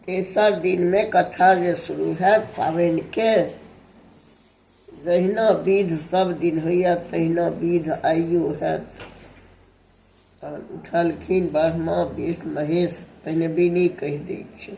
तेसर दिनमे कथा जे शुरू हैत पाबनिके जहिना विध सब दिन होइए तहिना विध आइयो हैत उठलखिन ब्रह्मा विष्णु महेश पहिने बिनी कहि दै छै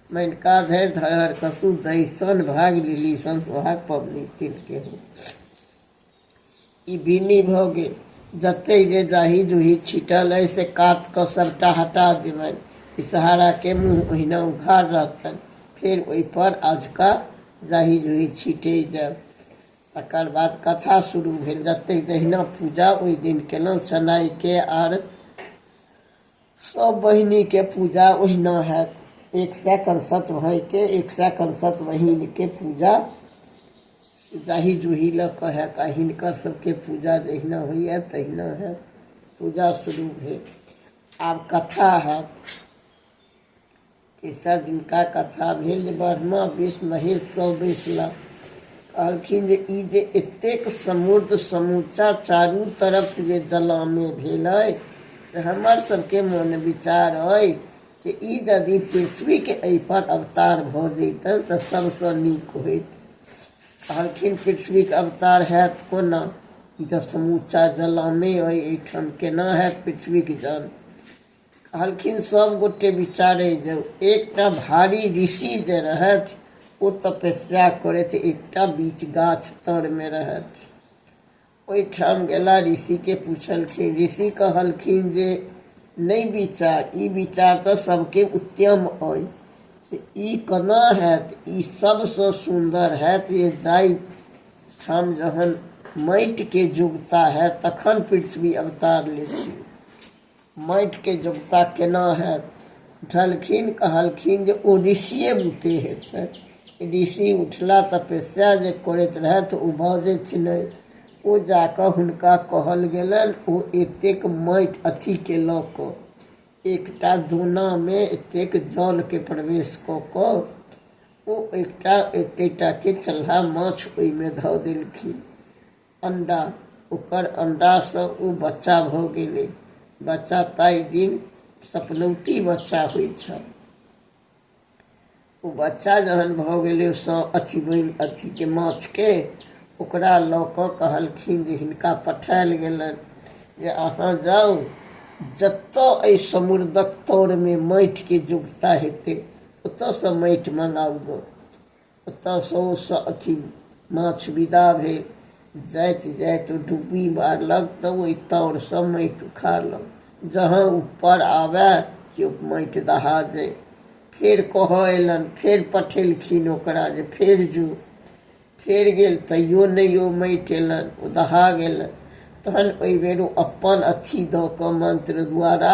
मानिका धरि धरहर कसू दही सन भाग लिली सन सोहाग पबनी तिलके हो ई बीनी भऽ गेल जतेक जे जाही जूही छिटल अइ से कात कऽ सभटा हटा देबनि ई सहाराके मुँह ओहिना उघार रहतनि फेर ओहिपर अजका जाही जूही छिटे जायब तकर बाद कथा शुरू भेल जतेक जहिना पूजा ओहि दिन केलहुँ सनाइके आर सब बहिनी के पूजा ओहिना हैत एक सए कंसत भाई के एक सए कंसत बहिन के पूजा जाहि जूही लऽ कऽ हैत आ हिनकर सबके पूजा जहिना होइए तहिना हैत पूजा शुरू भेल आब कथा हैत तेसर दिनका कथा भेल जे ब्रह्मा विष्णु महेश सब बैसला कहलखिन जे ई जे एतेक समृद्ध समूचा चारू तरफ जे दलामे भेल अइ से हमर सबके मन विचार अइ जे ई यदि पृथ्वीके एहिपर अवतार भऽ जैतनि तऽ सभसँ नीक होइत कहलखिन पृथ्वीके अवतार हैत कोना ई तऽ समूचा जलामे अइ एहिठाम केना हैत पृथ्वीके जल कहलखिन सब गोटे विचारे जाऊ एकटा भारी ऋषि जे रहथि ओ तपस्या करैत एकटा बीच गाछ तर में रहथि ओहिठाम गेला ऋषि के पूछलखिन ऋषि कहलखिन जे नहीं विचार ई विचार तो सबके उत्तम अय से ई कना हैत ई सबसँ सुन्दर हैत जे जाई ठाम जहन माटिके जुगता हैत तखन पृथ्वी अवतार लेती माटिके जोगता केना हैत उठलखिन कहलखिन जे ओ ऋषिए बुते हेतै ऋषि उठला तपस्या जे करैत रहथि ओ बजै छलै ओ जा कऽ हुनका कहल गेलनि ओ एतेक माटि अथीके लऽ कऽ एकटा दोनामे एतेक जलके प्रवेश कऽ कऽ ओ एकटा एतेकटाके चल्हा माछ ओहिमे धऽ देलखिन अंडा ओकर अंडासँ ओ बच्चा भऽ गेलै बच्चा ताहि दिन सपनौती बच्चा होइ छल ओ बच्चा जहन भऽ गेलै सँ अथी बनि अथीके माछके ओकरा लऽ कऽ कहलखिन जे हिनका पठायल गेलनि जे अहाँ जाउ जतऽ एहि समुद्रक तरमे माटिके जुगता हेतै ओतऽसँ माटि मँगाउ गऽ ओतऽ सँ ओ स अथी माछ विदा भेल जाइत जाइत ओ डुब्बी मारलक तऽ ओहि ताउरसँ माटि उखाड़लक जहाँ ऊपर आबए कि ओ माटि दहा जाय फेर कहऽ अयलनि फेर पठेलखिन ओकरा जे फेर जो फेर गेल तैयो नहि ओ माटि अयलनि ओ दहा गेलनि तहन ओहि बेर ओ अपन अथी दऽ कऽ मन्त्र द्वारा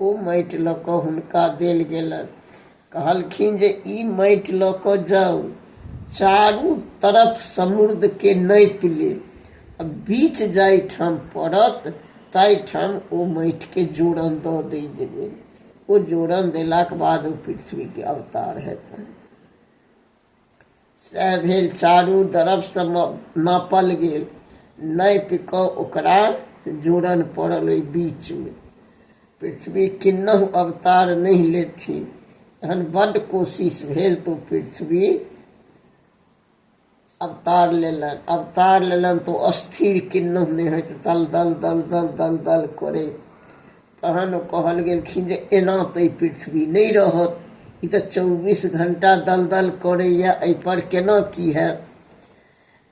ओ माटि लऽ कऽ हुनका देल गेलनि कहलखिन जे ई माटि लऽ कऽ जाउ चारू तरफ समुद्रके नापि लेब आ बीच जाहिठाम पड़त ताहिठाम ओ माटिके जोड़न दऽ दै जेबै ओ जोड़न देलाक बाद ओ पृथ्वीके अवतार हेतनि सएह भेल चारू दरफसँ नापल गेल नापि कऽ ओकरा जोड़न पड़ल ओहि बीचमे पृथ्वी किन्नहु अवतार नहि लेथिन एहन बड्ड कोशिश भेल तऽ पृथ्वी अवतार लेलनि अवतार लेलनि तऽ ओ अस्थिर किन्नहु नहि होइत दल दल दल दल दल दल करैत तहन ओ कहल गेलखिन जे एना तऽ ई पृथ्वी नहि रहत ई तऽ चौबीस घण्टा दलदल करैए एहिपर केना की हैत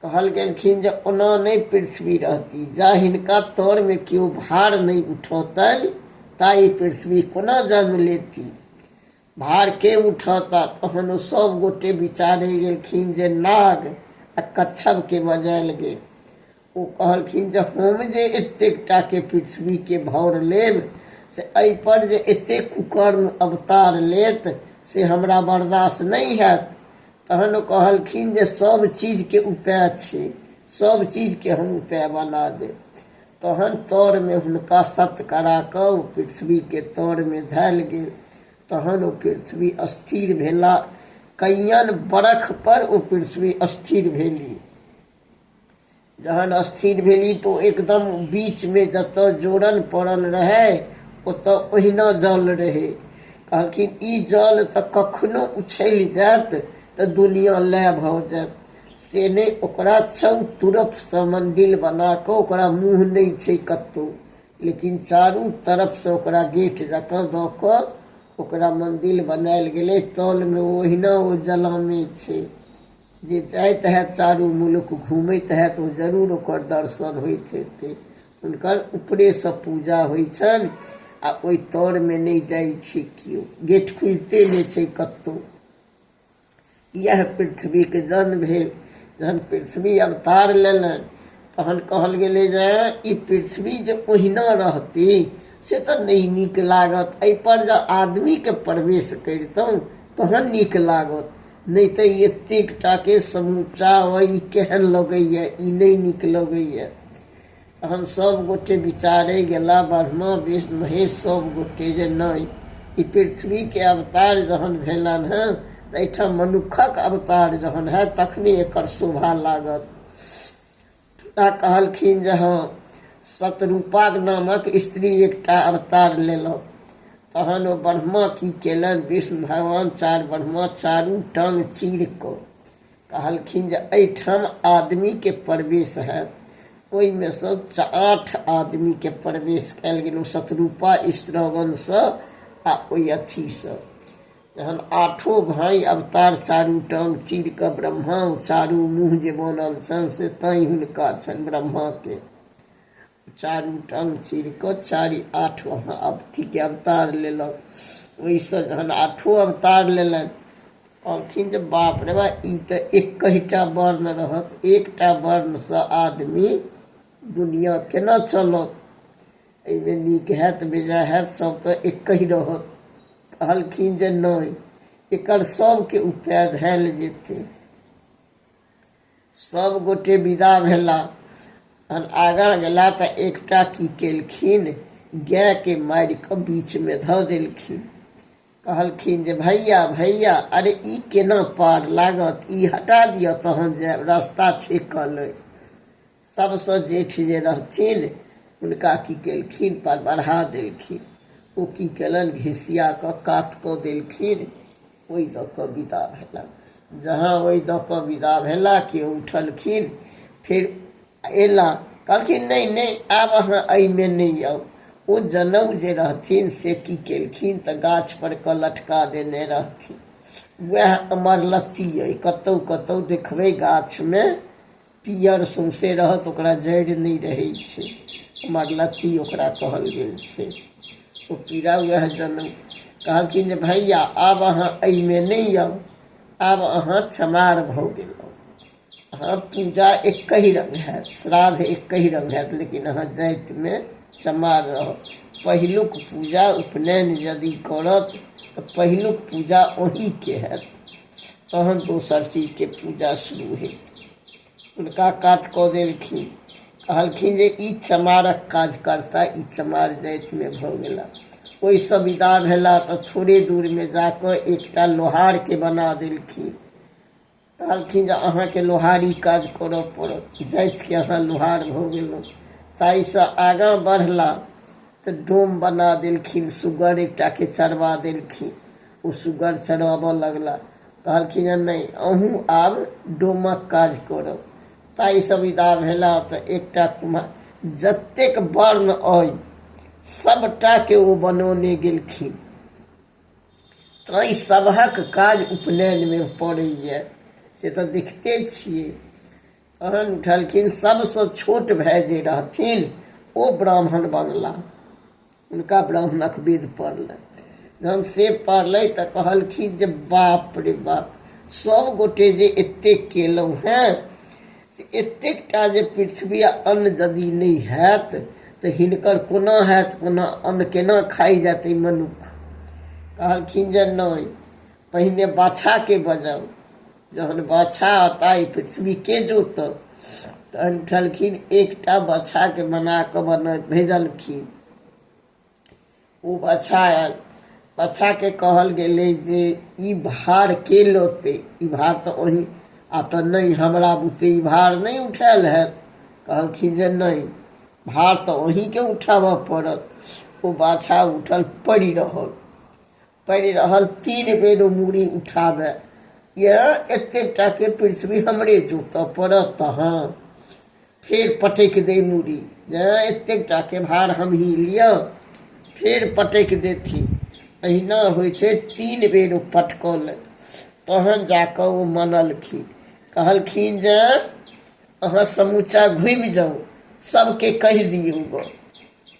कहल गेलखिन जे ओना नहि पृथ्वी रहती जा हिनका तरमे केओ भार नहि उठौतनि ता ई पृथ्वी कोना जन्म लेती भार के उठौता तहन ओ सभ गोटे विचारय गेलखिन जे नाग आ कच्छप के बजायल गेल। ओ कहलखिन जे हम जे एतेक टा के पृथ्वी के भौर लेब से एहि पर जे एतेक कुकर्म अवतार लेत से हमरा बर्दाश्त नहि हएत। तहन ओ कहलखिन जे सभ चीज के उपाय छै। सभ चीज के हम उपाय बना देब। तहन तरमे हुनका सत्त करा कऽ ओ पृथ्वीके तरमे धयल गेल तहन ओ पृथ्वी स्थिर भेला कैयन बरख पर ओ पृथ्वी स्थिर भेली जहन स्थिर भेली तऽ ओ एकदम बीचमे जतऽ जोड़ल पड़ल रहै ओतऽ ओहिना जल रहै कहलखिन ई जल तऽ कखनो उछलि जायत तऽ दुनिया लय भऽ जायत से नहि ओकरा चारू तरफसँ मन्दिर बना कऽ ओकरा मुँह नहि छै कतहु लेकिन चारू तरफसँ ओकरा गेट जकाँ दऽ कऽ ओकरा मन्दिर बनायल गेलै तलमे ओहिना ओ जलामे छै जे जाइत हैत चारू मुलुक घूमैत हैत ओ जरूर ओकर दर्शन होइत हेतै हुनकर ऊपरेसँ पूजा होइ छनि आ ओहि तरमे नहि जाइ छै केओ गेट खुलिते नहि छै कतहु इएह पृथ्वीके जन्म भेल जहन पृथ्वी अवतार लेलनि तहन कहल गेलै जे ई पृथ्वी जे ओहिना रहती से तऽ नहि नीक लागत एहिपर जँ आदमीके प्रवेश करितहुँ तहन नीक लागत नहि तऽ एतेक टाके समूचा अइ ई केहन लगैए ई नहि नीक लगैए तहन सभ गोटे विचारय गेला ब्रह्मा विष्णु महेश सभ गोटे जे नहि ई पृथ्वीके अवतार जहन भेलनि हेँ तऽ एहिठाम मनुक्खक अवतार जहन हएत तखने एकर शोभा लागत आ कहलखिन जे हँ सतरूपाक नामक स्त्री एकटा अवतार लेलहुँ तहन ओ ब्रह्मा की केलनि विष्णु भगवान चार ब्रह्मा चारू टांग चीर कऽ कहलखिन जे एहिठाम आदमीके प्रवेश हैत ओहिमे सँ आठ आदमीके प्रवेश कयल गेल ओ शत्रुपा स्त्रगणसँ आ ओहि अथीसँ जहन आठो भाई अवतार चारू टांग चीर कऽ ब्रह्मा चारू मुँह जे बनल छनि से तैँ हुनका छनि ब्रह्माके चारू टांग चीर कऽ चारि आठ महाअवतीके अवतार लेलक ओहिसँ जहन आठो अवतार लेलनि कहलखिन जे बाप रे बा ई तऽ एकहिटा वर्ण रहत एकटा वर्णसँ आदमी दुनिया केना चलत एहिमे नीक हैत बेजा हैत सभ तऽ एकहि रहत कहलखिन जे नहि एकर सभके उपाय धयल जेतै सभ गोटे विदा भेला आगाँ गेला तऽ एकटा की केलखिन गायके मारि कऽ बीचमे धऽ देलखिन कहलखिन जे भैया भैया अरे ई केना पार लागत ई हटा दिअ तहन जे रस्ता छेकल अइ सभसँ जेठ जे रहथिन हुनका की केलखिन पर बढ़ा देलखिन ओ की केलनि घिसिया कऽ कात कऽ देलखिन ओहि दऽ कऽ विदा भेला जहाँ ओहि दऽ कऽ विदा भेला केओ उठलखिन फेर अयला कहलखिन नहि नहि आब अहाँ एहिमे नहि आउ ओ जनउ जे रहथिन से की केलखिन तऽ गाछपर कऽ लटका देने रहथिन उएह अमर लत्ती अइ कतहु कतहु देखबै गाछमे पीयर सौंसे रहत ओकरा जड़ि नहि रहै छै हमर लत्ती ओकरा कहल गेल छै ओ पीड़ा वएह जनम कहलखिन जे भैया आब अहाँ एहिमे नहि आउ आब अहाँ चमार भऽ गेलहुँ अहाँ पूजा एकहि रंग हैत श्राद्ध एकहि रंग हैत लेकिन अहाँ जातिमे चमार रहब पहिलुक पूजा उपनयन यदि करत तऽ पहिलुक पूजा ओहीके हैत तहन दोसर चीजके पूजा शुरू हेतै हुनका कात कऽ देलखिन कहलखिन जे ई चमारक काज करता ई चमार जातिमे भऽ गेला ओहिसँ विदा भेला तऽ थोड़े दूरमे जा कऽ एकटा लोहारके बना देलखिन कहलखिन जे अहाँके लोहारी काज करऽ पड़त जातिके अहाँ लोहार भऽ गेलहुँ ताहिसँ आगाँ बढ़ला तऽ डोम बना देलखिन सुगर एकटाके चढ़बा देलखिन ओ सुगर चढ़बऽ लगला कहलखिन जे नहि अहूँ आब डोमक काज करब ताहिसँ विदा भेला तऽ एकटा कुम्हार जतेक वर्ण अइ सभटाके ओ बनौने गेलखिन ताहि सभक काज उपनयनमे पड़ैए से तऽ देखिते छियै तहन उठलखिन सभसँ छोट भाय जे रहथिन ओ ब्राह्मण बनला हुनका ब्राह्मणक विध पड़लै जहन से पड़लै तऽ कहलखिन जे बाप रे बाप सभ गोटे जे एतेक केलहुँ हेँ से एतेकटा जे पृथ्वी आ अन्न यदि नहि हैत तऽ हिनकर कोना हैत कोना अन्न केना खाइ जायत ई मनुख कहलखिन जे नहि पहिने बाछाकेँ बजाउ जहन बाछा आ ताइ पृथ्वीके जोतल तहन उठलखिन एकटा बाछाके बना कऽ बना भेजलखिन ओ बाछा आयल बाछाके कहल गेलै जे ई भार के लोते ई भार तऽ ओही आ तऽ नहि हमरा बुते ई भार नहि उठायल हैत कहलखिन जे नहि भार तऽ ओहीके उठाबऽ पड़त ओ बाछा उठल पड़ि रहल पड़ि रहल तीन बेर ओ मूड़ी उठाबय यए एतेक टाके पृथ्वी हमरे जोतय पड़त तहाँ फेर पटकि दै मूड़ी यए एतेक टाके भार हमही लिअ फेर पटकि देथिन अहिना होइ छै तीन बेर ओ पटकौलनि तहन जा कऽ ओ मनलखिन कहलखिन जे अहाँ समूचा घुमि जाउ सभके कहि दियौ गऽ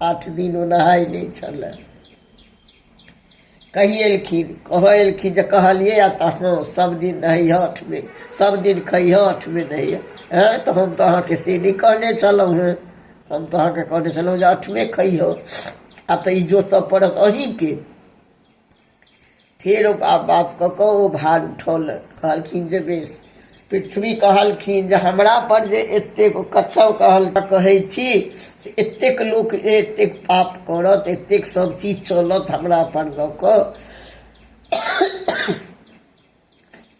आठ दिन ओ नहाय नहि छलै कहि एलखिन कहऽ एलखिन जे कहलियै आ तऽ हँ सभ दिन नहैह आठमे सभ दिन खैह आठमे नहैह हँ तऽ हम तऽ अहाँके से नहि कहने छलहुँ हेँ हम तऽ अहाँके कहने छलहुँ जे आठमे खैह आ तऽ ई जोतय पड़त अहीँके फेर ओ बाप बाप कऽ कऽ ओ भार उठौलक कहलखिन जे बेस पृथ्वी कहलखिन जे हमरा पर जे एतेक कथौ कहल कहै छी से एतेक लोक जे एतेक पाप करत एतेक सब चीज चलत हमरा पर दऽ कऽ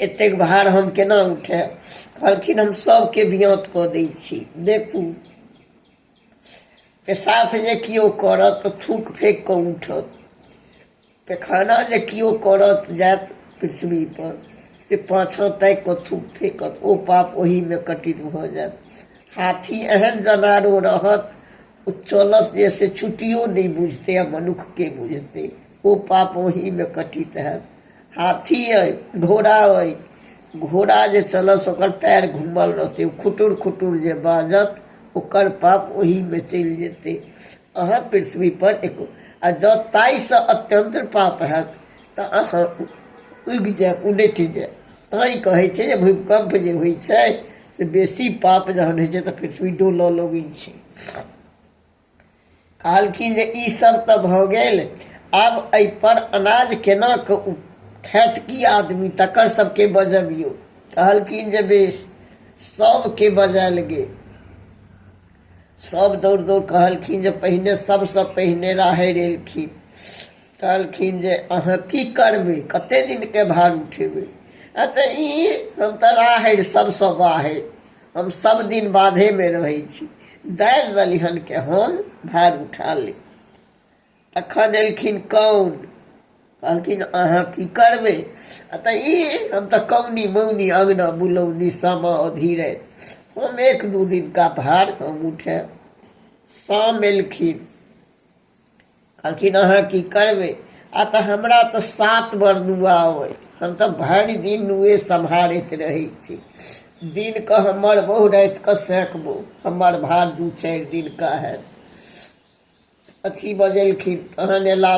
एतेक भार हम केना उठायब कहलखिन हम सभके बियत कऽ दै छी देखू पेशाब जे केओ करत तऽ थूक फेक कऽ उठत पैखाना जे केओ करत जायत पृथ्वी पर से पाछाँ ताकि कऽ थूक फेकत ओ पाप ओहिमे कटित भऽ जायत हाथी एहन जनारो रहत ओ चलत जे से छुट्टियो नहि बुझतै आ मनुक्खके बुझतै ओ पाप ओहिमे कटित हैत हाथी अइ घोड़ा अइ घोड़ा जे चलत से ओकर पएर घूमल रहतै ओ खुटुर खुटुर जे बाजत ओकर पाप ओहीमे चलि जेतै अहाँ पृथ्वीपर एको आ जँ ताहिसँ अत्यन्त पाप हैत तऽ अहाँ उगि जायब उनटि जायब तैँ कहै छै जे भूकम्प जे होइ छै से बेसी पाप जहन होइ छै तऽ पृथ्वी डोलय लगै छै कहलखिन जे ई सब तऽ भऽ गेल आब एहि पर अनाज केना कऽ खायत की आदमी तकर सबके बजबियो कहलखिन जे बेस सबके बजायल गेल सब दौड़ दौड़ कहलखिन जे पहिने सबसँ पहिने राहरि एलखिन कहलखिन जे अहाँ की करबै कते दिनके भार उठेबै आ तऽ ई हम तऽ राहरि सबसँ बाहरि हम सब दिन बाधे में रहे छी दालि दलिहन के हम भार उठा ले तखन एलखिन कौन कहलखिन अहाँ की करबै आ तऽ ई हम तऽ कौनी मौनी अङ्गना बुलौनी सामा अधीरे हम एक दू दिनका भार हम उठायब शाम एलखिन कहलखिन अहाँ की करबै आ तऽ हमरा तऽ सात बर नुआ अइ हम तऽ भरि दिन नुए सम्हारैत रहै छी दिनके हमर बहु रातिके सेकबो हमर भार दू चारि दिनके हैत अथी बजेलखिन तहन अयला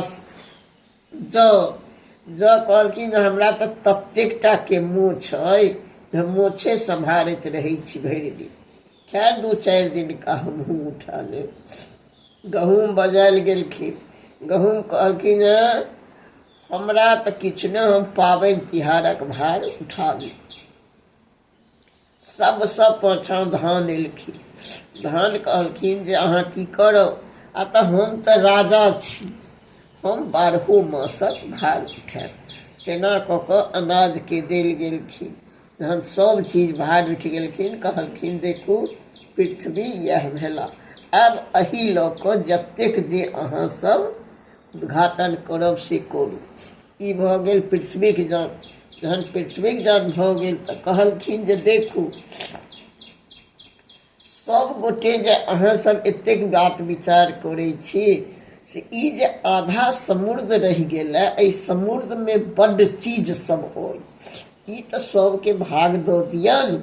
जँ जँ कहलखिन हमरा तऽ ततेक टाके मोछ अइ जे मोछे सम्हारैत रहै छी भरि दिन खैर दू चारि दिनका हमहूँ उठा लेब गहूँम बजायल गेलखिन गहूँम कहलखिन हेँ हमरा तऽ किछु नहि हम पाबनि तिहारक भार उठा ली सभसँ पाछाँ धान एलखिन धान कहलखिन जे अहाँ की करब आ तऽ हम तऽ राजा छी हम बारहो मासक भार उठायब तेना कऽ कऽ अनाजके देल गेलखिन जहन सभ चीज भार उठि गेलखिन कहलखिन देखू पृथ्वी इएह भेला आब एही लऽ कऽ जतेक जे अहाँसभ उद्घाटन करब से करू ई भऽ गेल पृथ्वीक जन जहन पृथ्वीक जन भऽ गेल तऽ कहलखिन जे देखू सब गोटे जे अहाँ सब एतेक बात विचार करै छी से ई जे आधा समुद्र रहि गेल है एहि समुद्र मे बड्ड चीज सब अइ ई तऽ सबके भाग दऽ दियन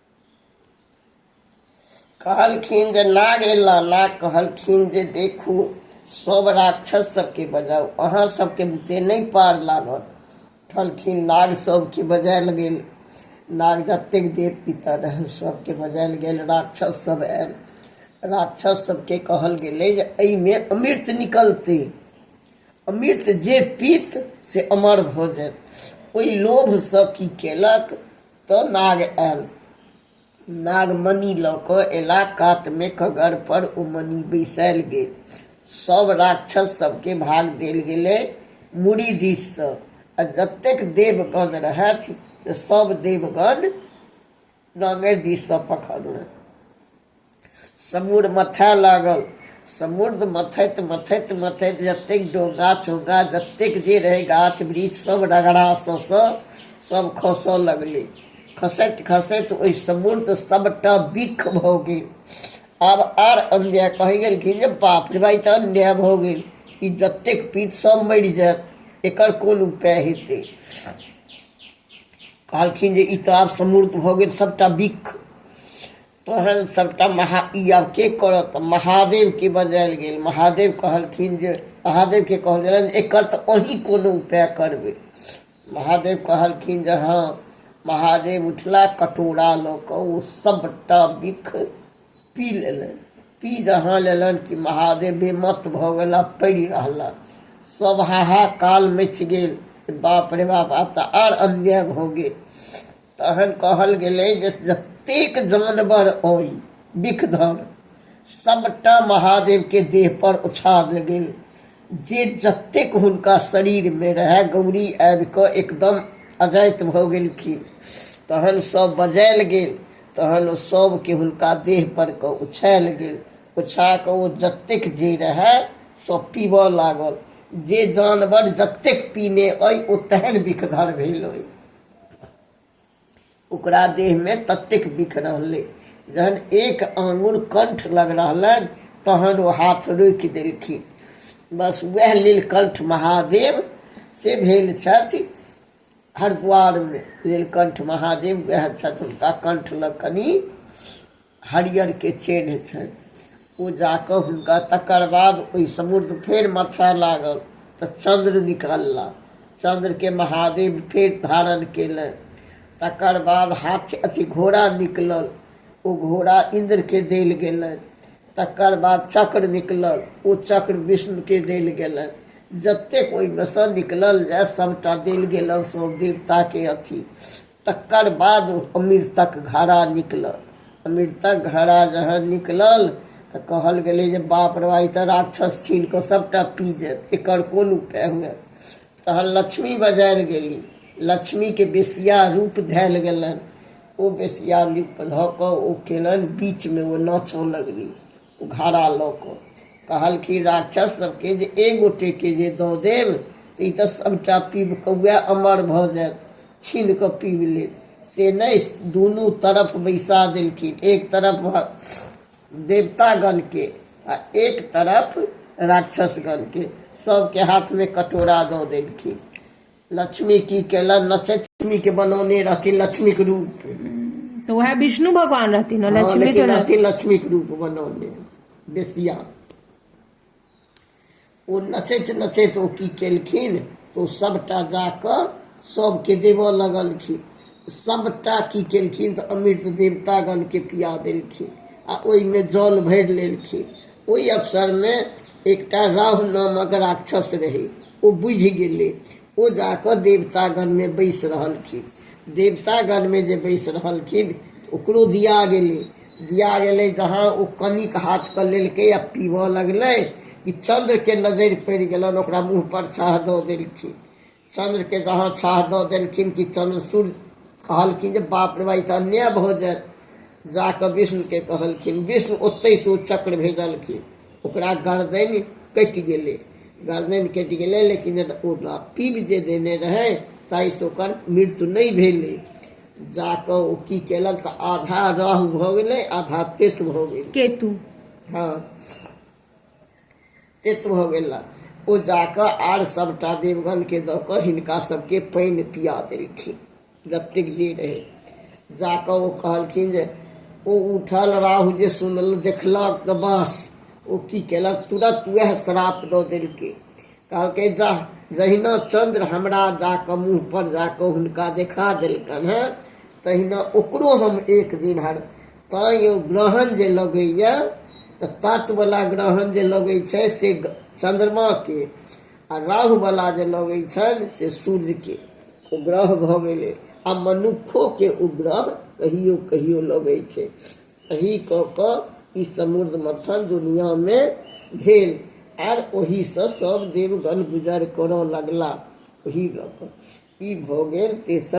कहलखिन जे नाग एला नाग कहलखिन जे देखू सब राक्षस सबके बजाउ अहाँ सबके बुते नहि पार लागत उठलखिन नाग सबके बजायल गेल नाग जतेक देव पितर रहल सबके बजायल गेल राक्षस सब आयल राक्षस सबके कहल गेलै जे एहिमे अमृत निकलतै अमृत जे पीत से अमर भऽ जायत ओहि लोभसँ की केलक तऽ नाग आयल नाग मणि लऽ कऽ अयला कातमे कगरपर ओ मणि बैसायल गेल सभ राक्षस सभके भाग देल गेलै मुड़ी दिससँ आ जतेक देवगण रहथि से सभ देवगण नाङ्गरि दिससँ पखड़लनि समुर मथय लागल समुद्र मथैत मथैत मथैत जतेक डोंगा चोंगा जतेक जे रहै गाछ वृक्ष सभ रगड़ा सभ खसय लगलै खसैत खसैत ओहि समुद्र सभटा बिख भऽ गेल आब आर अन्याय कहै गेलखिन जे बाप रे भाइ तऽ अन्याय भऽ गेल ई जतेक पीत सभ मरि जायत एकर कोन उपाय हेतै कहलखिन जे ई तऽ आब समुद्र भऽ गेल सभटा बिख तहन सभटा महा ई आब के करत तऽ महादेवके बजायल गेल महादेव कहलखिन जे महादेवके कहल गेलनि जे एकर तऽ अहीं कोनो उपाय करबै महादेव कहलखिन जे हँ महादेव उठला कटोरा लऽ कऽ ओ सभटा बिख पी लेलनि पी जहाँ लेलनि कि महादेव बेमत भऽ गेला पड़ि रहला सभ हाहाकाल मचि गेल बाप रे बाप आब तऽ आर अन्याय भऽ गेल तहन कहल गेलै जे जतेक जानवर अइ बिखधर सभटा महादेवके देहपर उछाल गेल जे जतेक हुनका शरीरमे रहए गौरी आबि कऽ एकदम अजाइत भऽ गेलखिन तहन सभ बजायल गेल तहन ओ सभके हुनका देहपर कऽ उछायल गेल उछा कऽ ओ जतेक जे रहए सभ पीबय लागल जे जानवर जतेक पीने अइ ओ तेहन बिखधर भेल अइ ओकरा देहमे ततेक बिख रहलै जहन एक आंगुर कंठ लग रहलनि तहन ओ हाथ रोकि देलखिन बस वएह नीलकंठ महादेव से भेल छथि हरिद्वारमे नीलकंठ महादेव वएह छथि हुनका कंठ लग कनि हरियरके चेन्ह छनि ओ जा कऽ हुनका तकर बाद ओहि समुद्र फेर मथय लागल तऽ चन्द्र निकलला चन्द्रके महादेव फेर धारण केलनि तकर बाद हाथी अथी घोड़ा निकलल ओ घोड़ा इन्द्रके देल गेलनि तकर बाद चक्र निकलल ओ चक्र विष्णुके देल गेलनि जतेक ओहिमे सँ निकलल जाय सभटा देल गेलनि सभ देवताके अथी तकर बाद अमृतक घड़ा निकलल अमृतक घड़ा जहन निकलल तऽ कहल गेलै जे बाप रे ई तऽ राक्षस छीन कऽ सभटा पी जायत एकर कोन उपाय हुए तहन लक्ष्मी बजारि गेली लक्ष्मीके बेसिया रूप धयल गेलनि ओ बेसिया रूप धऽ कऽ ओ केलनि बीचमे ओ नाचय लगली घड़ा लऽ कऽ कहलखिन राक्षस सभके जे एक गोटेके जे दऽ देब तऽ ई तऽ सभटा पीब कऽ उएह अमर भऽ जायत छीन कऽ पीब लेब से नहि दुनू तरफ बैसा देलखिन एक तरफ देवतागणके आ एक तरफ राक्षसगणके सभके हाथमे कटोरा दऽ देलखिन लक्ष्मी की केलनि लक्ष्मी के बनौने रहथिन लक्ष्मी के रूप तो वह विष्णु भगवान रहथिन हाँ, लक्ष्मी तो रहथिन लक्ष्मी के रूप बनौने बेसिया ओ नचैत नचैत ओ की केलखिन तो सबटा जाके सबके देव लगलखिन सबटा की केलखिन तऽ अमृत देवतागणके पिया देलखिन आ ओहिमे जल भरि लेलखिन ओहि अवसरमे एकटा राहु नामक राक्षस रहै ओ बुझि गेलै ओ जा कऽ देवतागणमे बैसि रहलखिन देवतागणमे जे बैसि रहलखिन ओकरो दिया गेलै दिया गेलै जहाँ ओ कनिक हाथके लेलकै आ पीबय लगलै कि चन्द्रके नजरि पड़ि गेलनि ओकरा मुँहपर छाह दऽ देलखिन चन्द्रके जहाँ छाह दऽ देलखिन कि चन्द्र सूर्य कहलखिन जे बाप रे बाई तऽ अन्याय भऽ जायत जा कऽ विष्णुके कहलखिन विष्णु ओतहिसँ ओ चक्र भेजलखिन ओकरा गर्दनि कटि गेलै गर्दनि कटि गेलै लेकिन ओ पीब जे देने रहै ताहिसँ ओकर मृत्यु नहि भेलै जा कऽ ओ की केलक तऽ आधा राहु भऽ गेलै आधा केतु भऽ गेलै केतु हँ तेत भऽ गेला ओ जाकऽ आर सभटा देवगणके दऽ कऽ हिनका सभके पानि पिया देलखिन जतेक जे रहै जाकऽ ओ कहलखिन जे ओ उठल राहु जे सुनल देखलक तऽ बस ओ की केलक तुरत उएह श्राप दऽ देलकै कहलकै जा जहिना चन्द्र हमरा जाकऽ मुँहपर जाकऽ हुनका देखा देलकनि हेँ तहिना ओकरो हम एक दिन हर तैँ यौ ग्रहण जे लगैए तऽ तत्ववला ग्रहण जे लगै छै से चन्द्रमाके आ राहुवला जे लगै छनि से सूर्यके ओ ग्रह भऽ गेलै आ मनुक्खोके ओ ग्रह कहियो कहियो लगै छै एही कऽ कऽ ई समुद्र मथन दुनिआँमे भेल आर ओहीसँ सभ देवगण गुजर करय लगला ओही लऽ कऽ ई भऽ गेल तेसर